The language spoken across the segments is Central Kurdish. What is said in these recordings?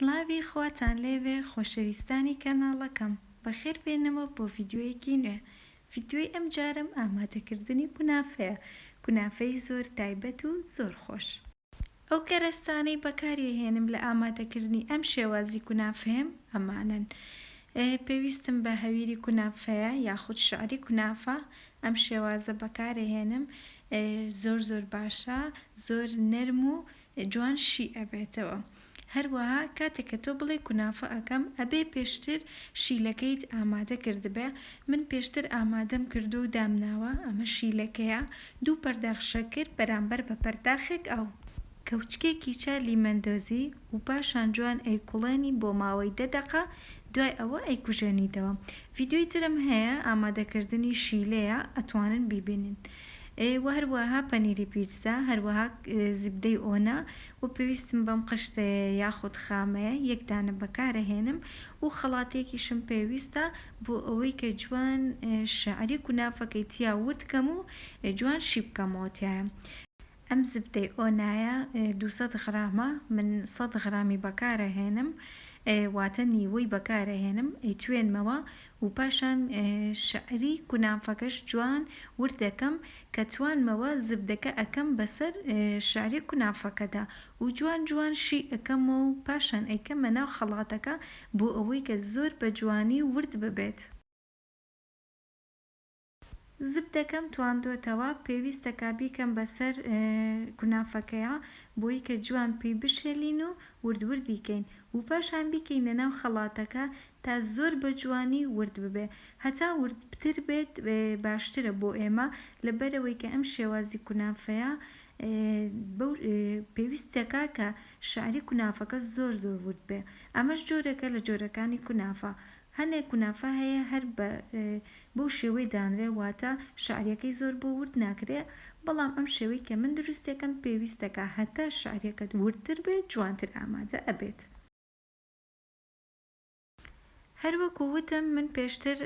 سڵاوی خواتان لێبێ خۆشەویستانی کەناڵەکەم، بەخێربێنەوە بۆ ڤیدیۆیەکی نوێ، ڤیدیۆی ئەمجارەم ئامادەکردنی کونافەیە، کونافەی زۆر تایبەت و زۆر خۆش. ئەو کەرەستانەی بەکاریەهێنم لە ئامادەکردنی ئەم شێوازی کونافەیەم ئەمانەن، پێویستم بە هەویری کونافەیە یاخود شعری کونافە، ئەم شێوازە بەکارەهێنم زۆر زۆر باشە زۆر نەرم و جوان شی ئەبێتەوە هەروەها کاتێک کە تۆ بڵێی کونافە ئەکەم ئەبێ پێشتر شیلەکەیت ئامادە کردبێ من پێشتر ئامادەم کردوە و دامناوە ئەمە شیلەکەیە دوو پەرداخ شەکر بەرامبەر بە پەرداخێک ئاو کەوچکێکی چالی مەندۆزی و پاشان جوان ئەیکوڵێنی بۆ ماوەی دە دەقە دوای ئەوە ئەیکوژێنیتەوە ڤیدیۆی ترم هەیە ئامادەکردنی شیلەیە ئەتوانن بیبینن وە هەروەها پەنیری پیتزا هەروەها زبدەی ئۆنا وە پێویستم بەم قشتەیە یاخود خامەیە یەک دانە بەکارەهێنم و خەڵاتێکیشم پێویستە بۆ ئەوەی کە جوان شعری کونافەکەی تیا ورد کەم و جوان شیبکەمەوە تیایا ئەم زبدەی ئۆنایە دوو سەد غرامە من سەد غرامی بەکارەهێنم واتە نیوەی بەکارەهێنم ئەیتوێنمەوە و پاشان شعری کونافەکەش جوان ورد دەکەم کە توانمەوە زبدەکە ئەکەم بەسەر شعری کونافەکەدا و جوان جوان شی ئەکەمەوە و پاشان ئەیکەمە ناو خەڵاتەکە بۆ ئەوەی کە زۆر بە جوانی ورد ببێت. زبدەکەم تواندۆتەوە پێویستە کا بیکەم بە سەر کونافەکەیا بۆی کە جوان پی بشێلین و ورد وردی کەین و پاشان بیکەینە ناو خەڵاتەکە تا زۆر بە جوانی ورد ببێ هەتا ورد بتر بێت باشترە بۆ ئێمە لە بەرەوەی کە ئەم شێوازی کونافەیا بەو پێویست دەکا کە شاری کونافەکە زۆر زۆر ورد بێ ئەمەش جۆرەکە لە جۆرەکانی کونافە هەنێ کونافە هەیە هەر بە بەو شێوەی دانرێ واتە شعریەکەی زۆر بۆ ورد ناکرێ بەڵام ئەم شێوەی کە من دروستیەکەم پێویستەکە هەتا شعریەکەت وردتر بێت جوانتر ئامادە ئەبێت. هەر وەکو وتم من پێشتر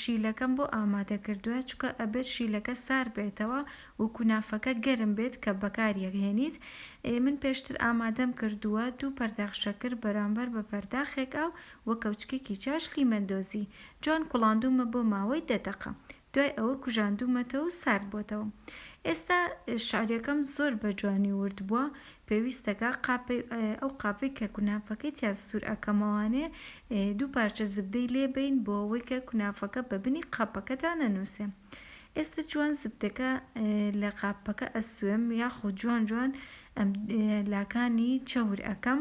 شیلەکەم بۆ ئامادە کردوە چونکە ئەبێت شیلەکە سارد بێتەوە و کونافەکە گەرم بێت کە بەکاری ئەهێنیت من پێشتر ئامادەم کردوە دوو پەرداخ شەکر بەرامبەر بە پەرداخێک ئاو وە کەوچکێکی چاش لیمەن دۆزی جوان کوڵاندوومە بۆ ماوەی دە دەقە دوای ئەوە کوژاندوومەتەوە و سارد بۆتەوە ئێستا شعریەکەم زۆر بە جوانی ورد بووە پێویستەکا قاپەی ئەو قاپەی کە کونافەکەی تیا سور ئەکەمەوانێ دوو پارچە زبدەی لێ بەین بۆ ئەوەی کە کونافەکە بە بنی قاپەکە دا نەنوسێ ئێستا جوان زبدەکە لە قاپەکە ئەسوێم یاخۆ جوان جوان ئەم لاکانی چەور ئەکەم.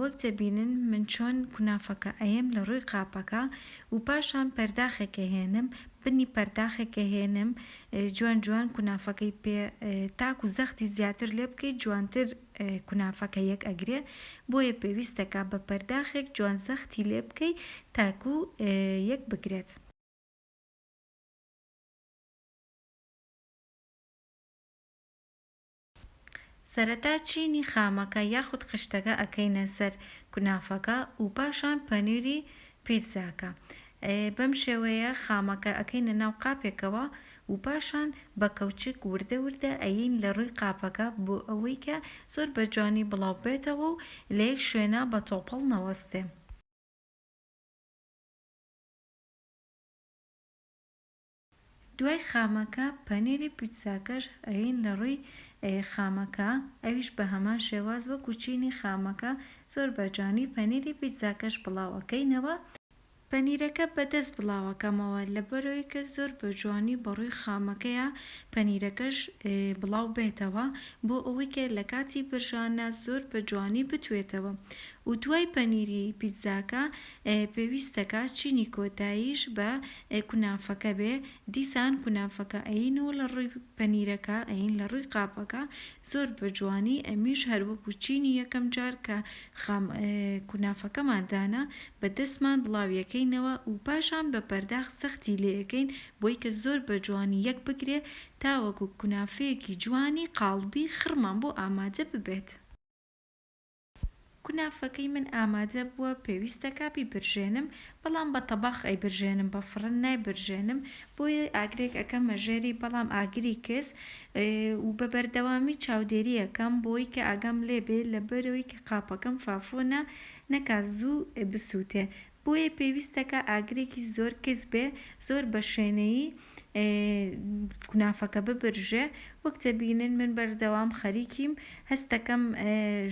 وەک دەبینن من چۆن کونافەکە ئەیەم لە ڕووی قاپەکە و پاشان پەرداخێک ئەهێنم بنی پەرداخێک ئەهێنم جوان جوان کونافەکەی پێ تاکو زەختی زیاتر لێ بکەی جوانتر کونافەکە یەک ئەگرێ بۆیە پێویستە کە بە پەرداخێک جوان زەختی لێ بکەی تاکو یەک بگرێت. سەرەتا چینی خامەکە یاخود خشتەکە ئەکەینە سەر کونافەکە و پاشان پەنیری پیتزاکە بەم شێوەیە خامەکە ئەکەینە ناو قاپێکەوە و پاشان بە کەوچک وردە وردە ئەیەین لە رووی قاپەکە بۆ ئەوەی کە زۆر بە جوانی بڵاو بێتەوە و لە یەک شوێنا بە تۆپەڵ نەوەستێ. دوای خامەکە پەنیری پیتزاکەش ئەیەین لە ڕووی خامەکە ئەویش بە هەمان شێواز وەکو چینی خامەکە زۆر بە جوانی پەنیری پیتزاکەش بڵاو ئەکەینەوە، پەنیرەکە بە دەست بڵاو ئەکەمەوە لەبەرئەوەی کە زۆر بە جوانی بە ڕووی خامەکەیا پەنیرەکەش بڵاو بێتەوە بۆ ئەوەی کە لە کاتی برژاندا زۆر بە جوانی بتوێتەوە و دوای پەنیری پیتزاکە پێویستەکا چینی کۆتاییش بە کونافەکە بێ دیسان کونافەکە ئەیین و لە ڕووی پەنیرەکە ئەیین لە ڕووی قاپەکە زۆر بە جوانی ئەمیش هەر وەکو چینی یەکەم جار کە خام کونافەکەمان دانا بە دەستمان بڵاوی ئەکەینەوە و پاشان بە پەرداخ زەختی لێ ئەکەین بۆی کە زۆر بە جوانی یەک بگرێ تاوەکو کونافەیەکی جوانی قاڵبی خڕمان بۆ ئامادە ببێت. کونافەکەی من ئامادە بووە پێویستە کا بیبرژێنم بەڵام بە تەباخ ئەیبرژێنم بە فڕن نایبرژێنم بۆیە ئاگرێک ئەکەمە ژێری بەڵام ئاگری کز و بە بەردەوامی چاودێری ئەکەم بۆی کە ئاگام لێبێ لەبەرۆی کە قاپەکەم فافۆنە نەکا زوو بسوتێ بۆیە پێویستە کە ئاگرێکی زۆر کز بێ زۆر بە شێنەیی کونافەکە ببرژێ وەک دەبینن من بەردەوام خەریکیم هەستەکەم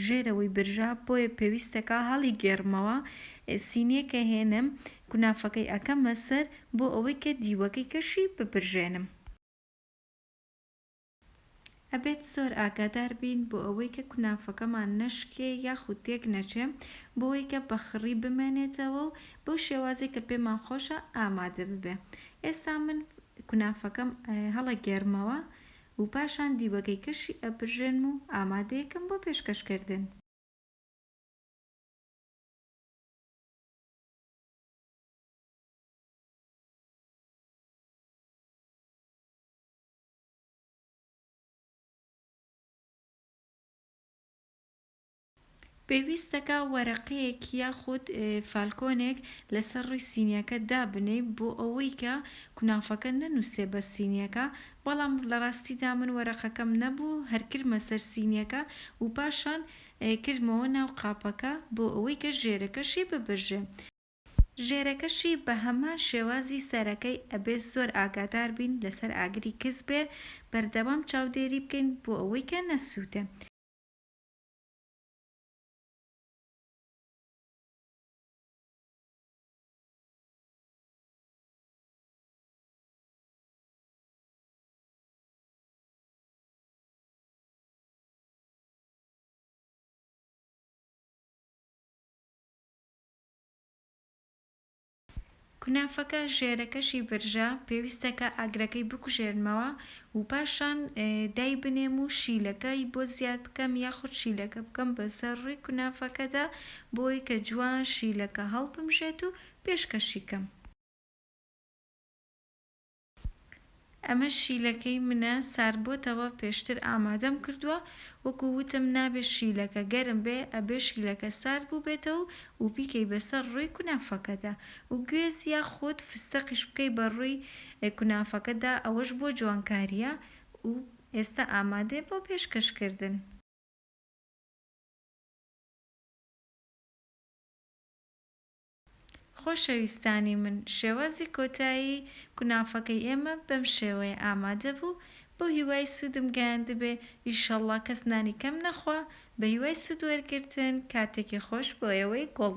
ژێرەوەی برژا بۆیە پێویستەکە هەڵی گێڕمەوە سینیەکە هێنم کونافەکەی ئەکەمە سەر بۆ ئەوەی کە دیوەکەی کەشی ببرژێنم. ئەبێت زۆر ئاگادار بین بۆ ئەوەی کە کونافەکەمان نەشکێ یاخود تێک نەچێ بۆوەی کە بە خڕی بمێنێتەوە و بەو شێوازەی کە پێمان خۆشە ئامادە ببێ ئێستا من کونافەکەم هەڵەگێرمەوە و پاشان دیوەگەیکەشی ئەبرژێنم و ئامادەیەکەم بۆ پێشکەش کردن. پێویستەکا وەرەقەیەک یاخود فالکۆنێک لەسەر ڕووی سینیەکە دابنێی بۆ ئەوەی کە کونافەکە نەنوسێ بە سینیەکە بەڵام لە ڕاستیدا من وەرەقەکەم نەبوو هەر کردمە سەر سینیەکە و پاشان کردمەوە ناو قاپەکە بۆ ئەوەی کە ژێرەکەشی ببرژێ ژێرەکەشی بە هەمان شێوازی سەرەکەی ئەبێ زۆر ئاگادار بین لەسەر ئاگری کز بێ بەردەوام چاودێری بکەین بۆ ئەوەی کە نەسووتێ. کونافەکە ژێرەکەشی برژە، پێویستە کە ئاگرەکەی بکوژێنمەوە و پاشان دایبنێم و شیلەکەی بۆ زیاد بکەم یاخود شیلەکە بکەم بەسەر ڕووی کونافەکەدا بۆی کە جوان شیلەکە هەڵبمژێت و پێشکەشی کەم. ئەمە شیلەکەی منە ساردبۆتەوە پێشتر ئامادەم کردوە وەکو وتم نابێ شیلەکە گەرم بێ ئەبێ شیلەکە سارد بوبێتەو و بیکەی بەسەر ڕوی کونافەکەدا و گوێز یا خۆد فستەقیش بکەی بە ڕوی کونافەکەدا ئەوەش بۆ جوانکاریە و ئێستا ئامادەیە بۆ پێشکەش کردن. خۆشەویستانی من، شێوازی کۆتایی کونافەکەی ئێمە بەم شێوەیە ئامادە بوو، بەو هیوای سوودم گەیاندبێ، ئیشەڵڵا کەس نانی کەم نەخوا، بە هیوای سوود وەرگرتن، کاتێکی خۆش بۆ ئێوەی گوڵ.